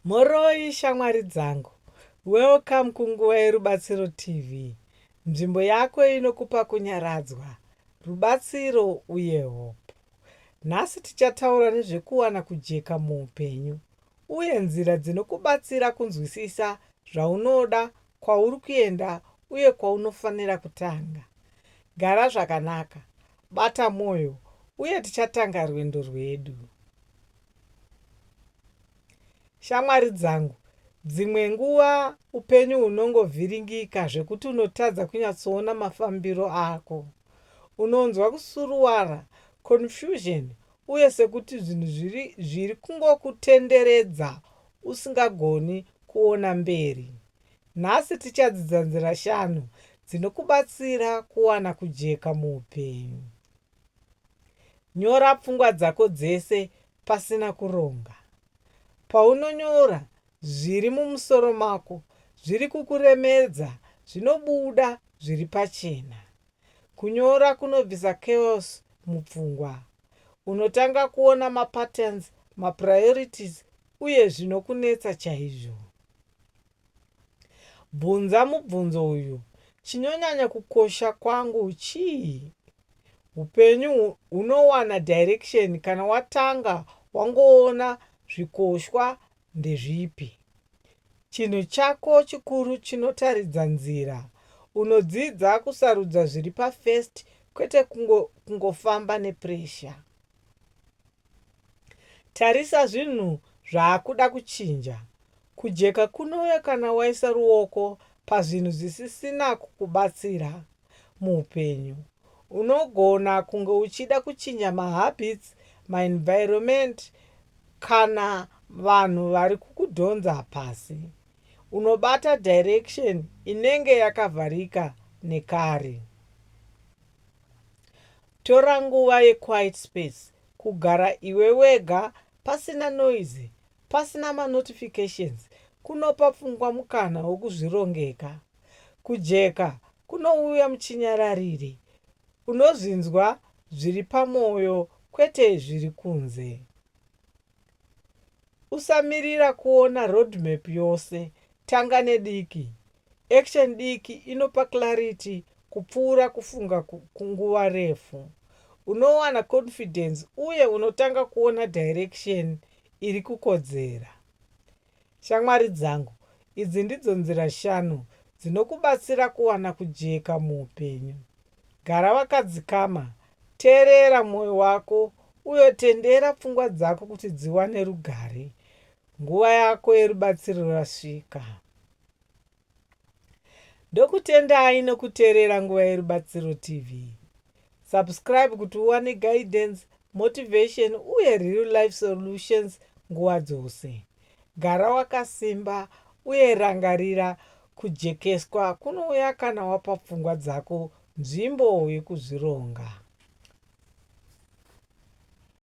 Mhoroi shamwari dzangu. Welcome kunguva yerubatsiro TV. Nzvimbo yako inokupa kunyaradzwa, rubatsiro uye hope. Nhasi tichataura nezvekuwana kujeka muupenyu uye nzira dzinokubatsira kunzwisisa zvaunoda kwauri kuenda uye kwaunofanira kutanga. Gara zvakanaka, bata mwoyo, uye tichatanga rwendo rwedu. Shamwari dzangu, dzimwe nguva upenyu hunongovhiringika zvekuti unotadza kunyatsoona mafambiro ako. Unonzwa kusuruwara, confusion, uye sekuti zvinhu zviri, zviri kungokutenderedza usingagoni kuona mberi. Nhasi tichadzidza nzira shanu dzinokubatsira kuwana kujeka muupenyu. Nyora pfungwa dzako dzese pasina kuronga. Paunonyora zviri mumusoro mako zviri kukuremedza zvinobuda zviri pachena. Kunyora kunobvisa chaos mupfungwa. Unotanga kuona mapatterns, mapriorities uye zvinokunetsa chaizvo. Bvunza mubvunzo uyu, Chinonyanya kukosha kwangu chii? Upenyu hunowana direction kana watanga wangoona zvikoshwa ndezvipi? Chinhu chako chikuru chinotaridza nzira. Unodzidza kusarudza zviri pafirst kwete kungo kungofamba nepressure. Tarisa zvinhu zvaakuda kuchinja. Kujeka kunouya kana waisa ruoko pazvinhu zvisisina kukubatsira. muupenyu. Unogona kunge uchida kuchinja mahabits, maenvironment kana vanhu vari kukudhonza pasi. Unobata direction inenge yakavharika nekare. Tora nguva yequiet space, kugara iwe wega pasina noise, pasina manotifications kunopa pfungwa mukana wekuzvirongeka. Kujeka kunouya muchinyararire, unozvinzwa zviri pamwoyo kwete zviri kunze. Usamirira kuona roadmap yose, tanga nediki. Action diki inopa clarity kupfuura kufunga kwenguva refu. Unowana confidence uye unotanga kuona direction iri kukodzera. Shamwari dzangu, idzi ndidzo nzira shanu dzinokubatsira kuwana kujeka muupenyu. Gara wakadzikama, teerera mwoyo wako uye tendera pfungwa dzako kuti dziwane rugare. Nguva yako yerubatsiro rasvika. Ndokutendai nokuteerera Nguva yeRubatsiro TV. Subscribe kuti uwane guidance, motivation uye real life solutions nguva dzose. Gara wakasimba uye rangarira kujekeswa kunouya kana wapa pfungwa dzako nzvimbo yokuzvironga.